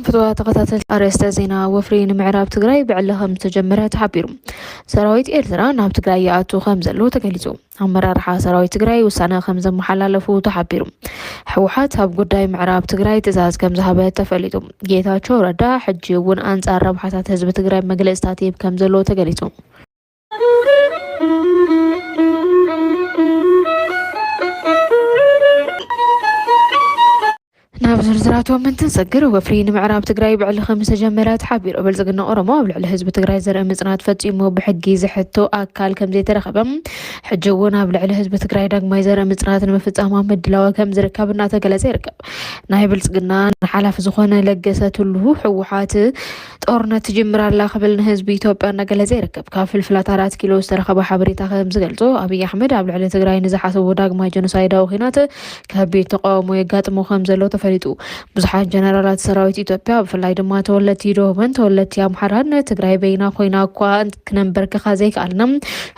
ፍትዋ ተኸታተል ኣርእስተ ዜና ወፍሪ ንምዕራብ ትግራይ ብዕሊ ከም ዝተጀመረ ተሓቢሩ ሰራዊት ኤርትራ ናብ ትግራይ ይኣቱ ከም ዘሎ ተገሊፁ ኣመራርሓ ሰራዊት ትግራይ ውሳነ ከም ዘመሓላለፉ ተሓቢሩ። ህወሓት ኣብ ጉዳይ ምዕራብ ትግራይ ትእዛዝ ከም ዝሃበ ተፈሊጡ። ጌታቸው ረዳ ሕጂ እውን ኣንጻር ረብሓታት ህዝቢ ትግራይ መግለጽታት ይህብ ከም ዘለዎ ተገሊጹ። ናብ ዝርዝራቶም እንትንሰግር፣ ወፍሪ ንምዕራብ ትግራይ ብዕሊ ከምዝተጀመረ ተሓቢሩ። ብልፅግና ኦሮሞ ኣብ ልዕሊ ህዝቢ ትግራይ ዘርኢ ምፅናት ፈፂሙ ብሕጊ ዝሕቶ ኣካል ከምዘይተረኸበ፣ ሕጂ እውን ኣብ ልዕሊ ህዝቢ ትግራይ ዳግማይ ዘርኢ ምፅናት ንምፍፃም ኣብ ምድላው ከምዝርከብ እናተገለፀ ይርከብ። ናይ ብልፅግና ሓላፊ ዝኾነ ለገሰ ቱሉ ህወሓት ጦርነት ትጅምር ኣላ ክብል ንህዝቢ ኢትዮጵያ እናገለፀ ይርከብ። ካብ ፍልፍላት ኣራት ኪሎ ዝተረኸበ ሓበሬታ ከምዝገልፆ ኣብይ ኣሕመድ ኣብ ልዕሊ ትግራይ ንዝሓሰቦ ዳግማይ ጀኖሳይዳዊ ኩናት ከቢድ ተቓውሞ የጋጥሞ ከም ዘሎ ተፈሊጡ። ብዙሓት ጀነራላት ሰራዊት ኢትዮጵያ ብፍላይ ድማ ተወለድቲ ደቡብን ተወለድቲ ኣምሓራን ትግራይ በይና ኮይና እኳ ክነንበርክኻ ዘይከኣልና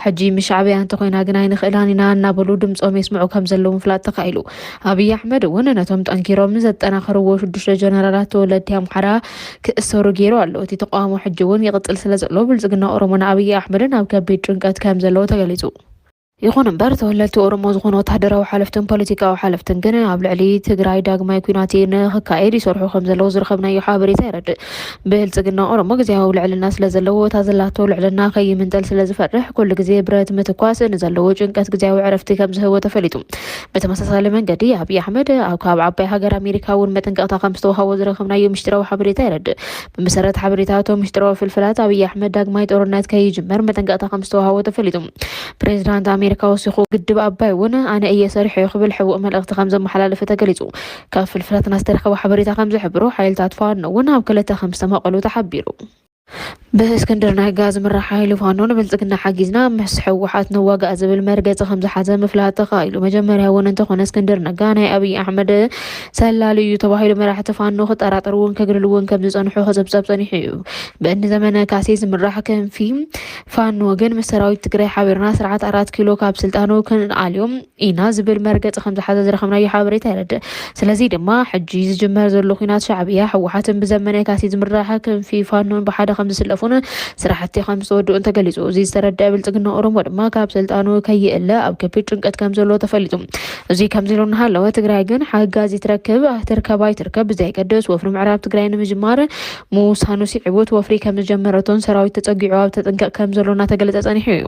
ሕጂ ምስ ሻዕብያ እንተኮይና ግን ኣይንኽእላን ኢና እናበሉ ድምፆም የስምዑ ከም ዘለዉ ምፍላጥ ተኻኢሉ። ኣብይ ኣሕመድ እውን ነቶም ጠንኪሮም ዘጠናኸርዎ ሽዱሽተ ጀነራላት ተወለድቲ ኣምሓራ ክእሰሩ ገይሩ ኣሎ። እቲ ተቃውሞ ሕጂ እውን ይቕፅል ስለ ዘሎ ብልፅግና ኦሮሞን ኣብይ ኣሕመድን ኣብ ከቢድ ጭንቀት ከም ዘለዎ ተገሊፁ። ይኹን እምበር ተወለድቲ ኦሮሞ ዝኾኑ ወተሃደራዊ ሓለፍትን ፖለቲካዊ ሓለፍትን ግን ኣብ ልዕሊ ትግራይ ዳግማይ ኩናት ንክካየድ ይሰርሑ ከም ዘለዉ ዝረኸብናዮ ሓበሬታ የረድእ። ብልፅግና ኦሮሞ ግዝያዊ ልዕልና ስለ ዘለዎ እታ ዘላቶ ልዕልና ከይምንጠል ስለ ዝፈርሕ ኩሉ ግዜ ብረት ምትኳስ ንዘለዎ ጭንቀት ግዝያዊ ዕረፍቲ ከም ዝህቦ ተፈሊጡ። ብተመሳሳሊ መንገዲ ኣብይ ኣሕመድ ኣብ ካብ ዓባይ ሃገር ኣሜሪካ እውን መጠንቀቕታ ከም ዝተውሃቦ ዝረኸብናዮ ምስጢራዊ ሓበሬታ የረድእ። ብመሰረት ሓበሬታ እቶም ምስጢራዊ ፍልፍላት ኣብይ ኣሕመድ ዳግማይ ጦርነት ከይጅመር መጠንቀቕታ ከም ዝተውሃቦ ተፈሊጡ። ፕሬዚዳንት ኣሜሪካ ወሲኹ ግድብ ኣባይ እውን ኣነ እየ ሰሪሖ ክብል ሕቡእ መልእኽቲ ከም ዘመሓላለፈ ተገሊጹ። ካብ ፍልፍላትና ዝተረከበ ሓበሬታ ከም ዝሕብሮ ሓይልታት ፋኖ እውን ኣብ ክልተ ከም ዝተመቐሉ ተሓቢሩ። ብእስክንድር ነጋ ዝምራሕ ሓይሊ ፋኖ ንብልፅግና ሓጊዝና ምስ ሕወሓት ንዋጋእ ዝብል መርገፂ ከም ዝሓዘ ምፍላጥ ተኻኢሉ። መጀመርያ እውን እንተኾነ እስክንድር ነጋ ናይ ኣብይ ኣሕመድ ሰላሊ እዩ ተባሂሉ መራሕቲ ፋኖ ክጠራጠርውን ከግልልውን ከም ዝፀንሑ ክፅብፀብ ፀኒሑ እዩ። ብእኒ ዘመነ ካሴ ዝምራሕ ክንፊ ፋኖ ግን ምስ ሰራዊት ትግራይ ሓቢርና ስርዓት ኣራት ኪሎ ካብ ስልጣኑ ክንኣልዮ ኢና ዝብል መርገፂ ከምዝሓዘ ዝረኸብናዮ ሓበሬታ የረድእ። ስለዚ ድማ ሕጂ ዝጅመር ዘሎ ኩናት ሻዕብያ፣ ህወሓትን ብዘመነ ካሴ ዝምራሕ ክንፊ ፋኖን ብሓደ ከምዝስለፉን ስራሕቲ ከምዝተወድኡን ተገሊፁ። እዚ ዝተረደኣ ብልፅግና ኦሮሞ ድማ ካብ ስልጣኑ ከይእለ ኣብ ከቢድ ጭንቀት ከምዘሎ ተፈሊጡ። እዚ ከምዚ ኢሉ እናሃለወ ትግራይ ግን ሓጋዚ ትረክብ ትርከብ ኣይትርከብ ብዘየገድስ ወፍሪ ምዕራብ ትግራይ ንምጅማር ምውሳኑ ስዒቡ እቲ ወፍሪ ከም ዝጀመረቶን ሰራዊት ተፀጊዑ ኣብ ተጥንቀቕ ከም ዘሎ እናተገለፀ ፀኒሑ እዩ።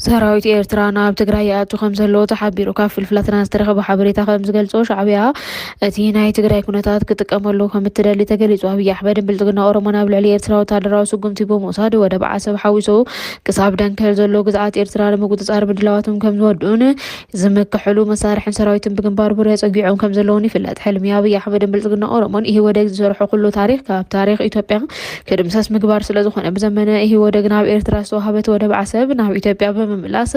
ሰራዊት ኤርትራ ናብ ትግራይ ይኣቱ ከም ዘለዎ ተሓቢሩ ካብ ፍልፍላትና ዝተረኸበ ሓበሬታ ከም ዝገልጾ ሻዕብያ እቲ ናይ ትግራይ ኩነታት ክጥቀመሉ ከም እትደሊ ተገሊጹ ኣብዪ ኣሕመድን ብልጽግና ኦሮሞን ኣብ ልዕሊ ኤርትራ ወታደራዊ ስጉምቲ ብምውሳድ ወደብ ዓሰብ ሓዊሱ ክሳብ ደንከል ዘሎ ግዝኣት ኤርትራ ንምቁፅፃር ምድላዋቶም ከም ዝወድኡን ዝምክሕሉ መሳርሕን ሰራዊትን ብግንባር ቡሬ ፀጊዖም ከም ዘለውን ይፍለጥ። ሕልሚ ኣብይ ኣሕመድን ብልፅግና ኦሮሞን ኢህወደግ ዝሰርሖ ኩሉ ታሪክ ካብ ታሪክ ኢትዮጵያ ክድምሰስ ምግባር ስለ ዝኾነ ብዘመነ ኢህወደግ ናብ ኤርትራ ዝተዋህበት ወደብ ዓሰብ ናብ ኢትዮጵያ ብምምላስ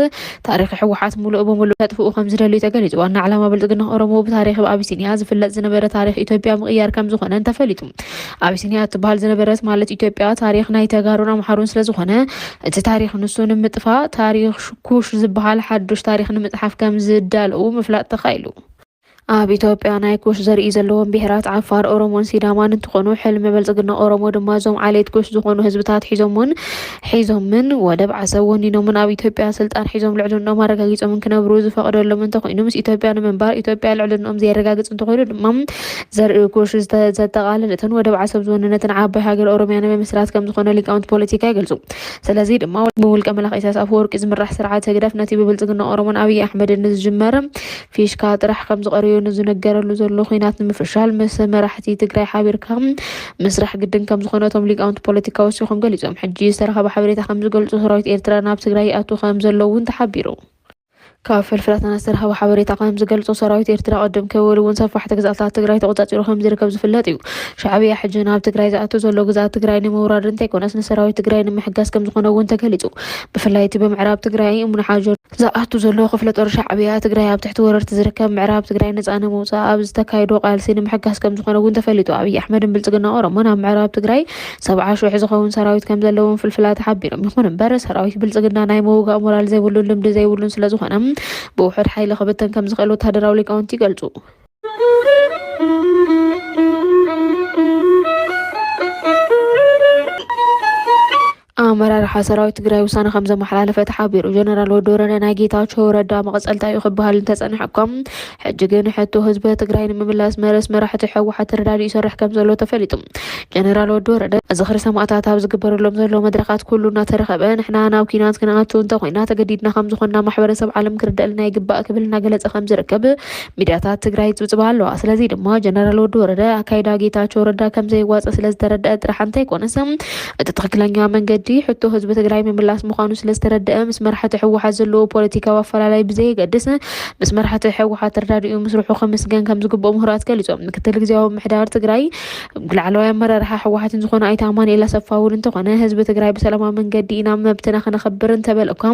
ታሪክ ሕወሓት ሙሉእ ብሙሉእ ከጥፍኡ ከም ዝደልዩ ተገሊፁ። ዋና ዕላማ ብልፅግና ኦሮሞ ብታሪክ ብ ኣቢሲንያ ዝፍለጥ ዝነበረ ታሪክ ኢትዮጵያ ምቕያር ከም ዝኾነን ተፈሊጡ። ኣቢሲንያ እትበሃል ዝነበረት ማለት ኢትዮጵያ ታሪኽ ናይ ተጋሩን ኣምሓሩን ስለዝኾነ እቲ ታሪኽ ንሱ ንምጥፋእ ታሪኽ ኩሽ ዝበሃል ሓዱሽ ታሪኽ ንምፅሓፍ ከም ዝዳለዉ ምፍላጥ ተኻኢሉ። ኣብ ኢትዮጵያ ናይ ኩሽ ዘርኢ ዘለዎም ብሄራት ዓፋር፣ ኦሮሞን ሲዳማን እንትኾኑ ሕልሚ ብልፅግና ኦሮሞ ድማ እዞም ዓሌት ኩሽ ዝኾኑ ህዝብታት ሒዞም እውን ሒዞምን ወደብ ዓሰብ ወኒኖምን ኣብ ኢትዮጵያ ስልጣን ሒዞም ልዕልንኦም ኣረጋጊጾምን ክነብሩ ዝፈቕደሎም እንተኾይኑ ምስ ኢትዮጵያ ንምንባር ኢትዮጵያ ልዕልንኦም ዘየረጋግጽ እንተኾይኑ ድማ ዘርኢ ኩሽ ዘጠቓለለትን ወደብ ዓሰብ ዝወነነትን ዓባይ ሃገር ኦሮሚያ ንምምስራት ከም ዝኾነ ሊቃውንቲ ፖለቲካ ይገልጹ። ስለዚ ድማ ብውልቀ መላኺ ኢሳያስ ኣፈወርቂ ዝምራሕ ስርዓት ህግደፍ ነቲ ብብልጽግና ኦሮሞን ኣብይ ኣሕመድን ንዝጅመር ፊሽካ ጥራሕ ከምዝቐረዮ ንዝነገረሉ ዘሎ ኹናት ንምፍሻል ምስ መራሕቲ ትግራይ ሓቢርካ ምስራሕ ግድን ከምዝኾነ እቶም ሊቃውንቲ ፖለቲካ ወሲኾም ገሊፆም። ሕጂ ዝተረኸበ ሓበሬታ ከምዝገልፆ ሰራዊት ኤርትራ ናብ ትግራይ ይኣቱ ከምዘሎ እውን ተሓቢሩ። ካብ ፍልፍላትና ዝተረኸበ ሓበሬታ ከምዝገልፆ ሰራዊት ኤርትራ ቅድም ክብል እውን ሰፋሕቲ ግዝኣታት ትግራይ ተቖፃፂሩ ከምዝርከብ ዝፍለጥ እዩ። ሻዕብያ ሕጂ ናብ ትግራይ ዝኣቱ ዘሎ ግዝኣት ትግራይ ንምውራድ እንተይኮነስ ንሰራዊት ትግራይ ንምሕጋዝ ከምዝኾነ እውን ተገሊፁ። ብፍላይ እቲ ብምዕራብ ትግራይ እምኒ ሓጀር፣ ዝኣቱ ዘሎ ክፍለ ጦር ሻዕብያ ትግራይ ኣብ ትሕቲ ወረርቲ ዝርከብ ምዕራብ ትግራይ ነፃ ንምውፃእ ኣብ ዝተካይዶ ቃልሲ ንምሕጋስ ከም ዝኾነ እውን ተፈሊጡ። ኣብይ ኣሕመድን ብልፅግና ኦሮሞን ኣብ ምዕራብ ትግራይ ሰብዓ ሽሕ ዝኸውን ሰራዊት ከም ዘለዎም ፍልፍላት ሓቢሮም። ይኹን እምበር ሰራዊት ብልፅግና ናይ ምውጋእ ሞራል ዘይብሉን ልምዲ ዘይብሉን ስለ ዝኾነ ብውሑድ ሓይሊ ክብተን ከም ዝኽእል ወታደራዊ ሊቃውንቲ ይገልፁ። ኣመራርሓ ሰራዊት ትግራይ ውሳነ ከም ዘመሓላለፈ ተሓቢሩ። ጀነራል ወዲ ወረደ ናይ ጌታቸው ረዳ መቐፀልታ እዩ ክበሃል እንተፀንሐ እኳ ሕጂ ግን ሕቶ ህዝቢ ትግራይ ንምምላስ መረስ መራሕቲ ሕወሓት ተረዳዲኡ ይሰርሕ ከም ዘሎ ተፈሊጡ። ጀነራል ወዲ ወረደ ዝኽሪ ሰማእታት ኣብ ዝግበረሎም ዘሎ መድረኻት ኩሉ እናተረኸበ ንሕና ናብ ኲናት ክንኣቱ እንተኾይና ተገዲድና ከም ዝኾንና ማሕበረሰብ ዓለም ክርደእልና ይግባእ ክብል እናገለፀ ከም ዝርከብ ሚድያታት ትግራይ ይፅብፅባ ኣለዋ። ስለዚ ድማ ጀነራል ወዲ ወረደ ኣካይዳ ጌታቸው ረዳ ከምዘይዋፀ ስለዝተረደአ ጥራሕ እንተይኮነስ እቲ ትክክለኛ መንገዲ ሕቶ ህዝቢ ትግራይ ምምላስ ምዃኑ ስለዝተረደአ ምስ መራሕቲ ህወሓት ዘለዎ ፖለቲካዊ ኣፈላላይ ብዘየገድስ ምስ መራሕቲ ህወሓት ተረዳዲኡ ምስርሑ ክምስገን ከምዝግብኦ ምሁራት ገሊፆም። ምክትል ግዜያዊ ምሕዳር ትግራይ ላዕለዋይ ኣመራርሓ ህወሓትን ዝኾነ ኣይተ ኣማንኤል ኣሰፋ እውን እንተኾነ ህዝቢ ትግራይ ብሰላማዊ መንገዲ ኢና መብትና ክነኽብር እንተበለ እኳ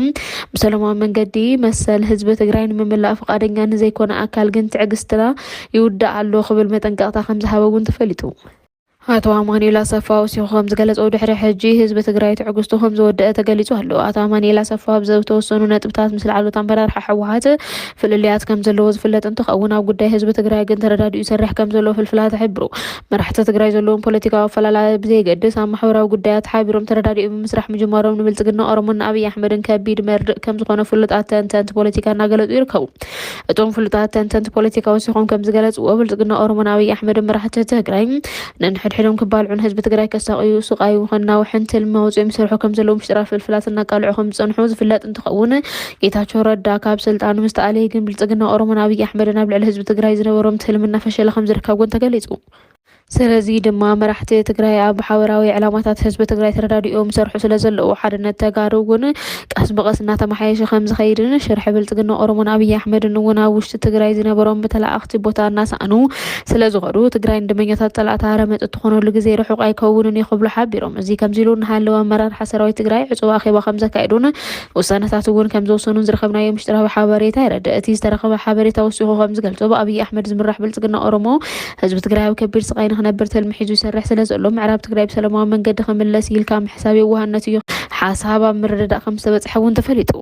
ብሰላማዊ መንገዲ መሰል ህዝቢ ትግራይ ንምምላእ ፍቃደኛ ንዘይኮነ ኣካል ግን ትዕግስትና ይውዳእ ኣሎ ክብል መጠንቀቕታ ከምዝሃበ እውን ተፈሊጡ። ኣቶ ኣማኑኤል ኣሰፋ ወሲኹ ከም ዝገለጸው ድሕሪ ሕጂ ህዝቢ ትግራይ ትዕግስቱ ከም ዝወደአ ተገሊጹ ኣሎ። ኣቶ ኣማኑኤል ኣሰፋ ብዘተወሰኑ ነጥብታት ምስ ላዕሎት ኣመራርሓ ህወሓት ፍልልያት ከም ዘለዎ ዝፍለጥ እንትኸውን ኣብ ጉዳይ ህዝቢ ትግራይ ግን ተረዳዲኡ ይሰርሕ ከም ዘሎ ፍልፍላት ይሕብሩ። መራሕቲ ትግራይ ዘለዎም ፖለቲካዊ ኣፈላላይ ብዘየገድስ ኣብ ማሕበራዊ ጉዳያት ተሓቢሮም ተረዳዲኡ ብምስራሕ ምጅማሮም ንብልፅግና ኦሮሞን ንኣብይ ኣሕመድን ከቢድ መርድእ ከም ዝኾነ ፍሉጣት ተንተንቲ ፖለቲካ እናገለፁ ይርከቡ። እቶም ፍሉጣት ተንተንቲ ፖለቲካ ወሲኾም ከም ዝገለፅዎ ብልፅግና ኦሮሞን ኣብይ ኣሕመድን መራሕቲ ትግራይ ነንሕድሕዶም ክባልዑን ህዝቢ ትግራይ ከሳቕዩ ስቓዩ ከናውሕን ትልሚ ኣውፂኦም ይሰርሑ ከም ዘለዉ ምሽጥራት ፍልፍላት እናቃልዑ ከም ዝፀንሑ ዝፍለጥ እንትኸውን ጌታቸው ረዳ ካብ ስልጣኑ ምስ ተኣለየ ግን ብልፅግና ኦሮሞን ኣብይ ኣሕመድን ኣብ ልዕሊ ህዝቢ ትግራይ ዝነበሮም ትልሚ እናፈሸለ ከምዝርከብ እውን ተገሊፁ። ስለዚ ድማ መራሕቲ ትግራይ ኣብ ሓበራዊ ዕላማታት ህዝቢ ትግራይ ተረዳዲኦም ይሰርሑ ስለዘለዉ ሓድነት ተጋሩ እውን ቀስ ብቐስ እናተመሓየሸ ከምዝኸይድን ሽርሒ ብልፅግና ኦሮሞን ኣብይ ኣሕመድን እውን ኣብ ውሽጢ ትግራይ ዝነበሮም ብተለኣኣኽቲ ቦታ እናሰኣኑ ስለዝኸዱ ትግራይ ንደመኛታት ፀላእቲ ሃረመፅ እትኾነሉ ግዜ ርሑቕ ኣይከውንን እዩ ክብሉ ሓቢሮም። እዚ ከምዚ ኢሉ እናሃለወ ኣመራርሓ ሰራዊት ትግራይ ዕፁብ ኣኼባ ከምዘካየዱን ውሳነታት እውን ከምዝወሰኑን ዝረኸብናዮ ምሽጥራዊ ሓበሬታ የረድእ። እቲ ዝተረኸበ ሓበሬታ ወሲኹ ከምዝገልጾ ብኣብይ ኣሕመድ ዝምራሕ ብልጽግና ኦሮሞ ህዝቢ ትግራይ ኣብ ከቢድ ስቓይ ንክነብር ትልሚ ሒዙ ይሰርሕ ስለዘሎ ምዕራብ ትግራይ ብሰለማዊ መንገዲ ክምለስ ኢልካ ምሕሳብ የዋህነት እዩ። ሓሳብ ኣብ ምርድዳእ ከምዝተበጽሐ እውን ተፈሊጡ።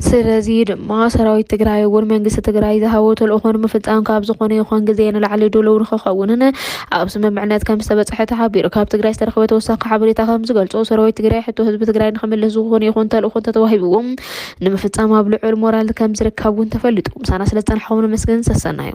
ስለዚ ድማ ሰራዊት ትግራይ እውን መንግስቲ ትግራይ ዝሃቦ ተልእኾ ንምፍጻም ካብ ዝኾነ ይኹን ግዜ ንላዕሊ ድሉው ንክኸውንን ኣብ ስምምዕነት ከም ዝተበፀሐ ተሓቢሩ። ካብ ትግራይ ዝተረኽበ ተወሳኺ ሓበሬታ ከም ዝገልፆ ሰራዊት ትግራይ ሕቶ ህዝቢ ትግራይ ንክምልስ ዝኾነ ይኹን ተልእኾ እንተተዋሂብዎ ንምፍፃም ኣብ ልዑል ሞራል ከም ዝርከብ እውን ተፈሊጡ። ምሳና ስለ ዝፀናሕኹም ነመስግን። ሰሰናዩ!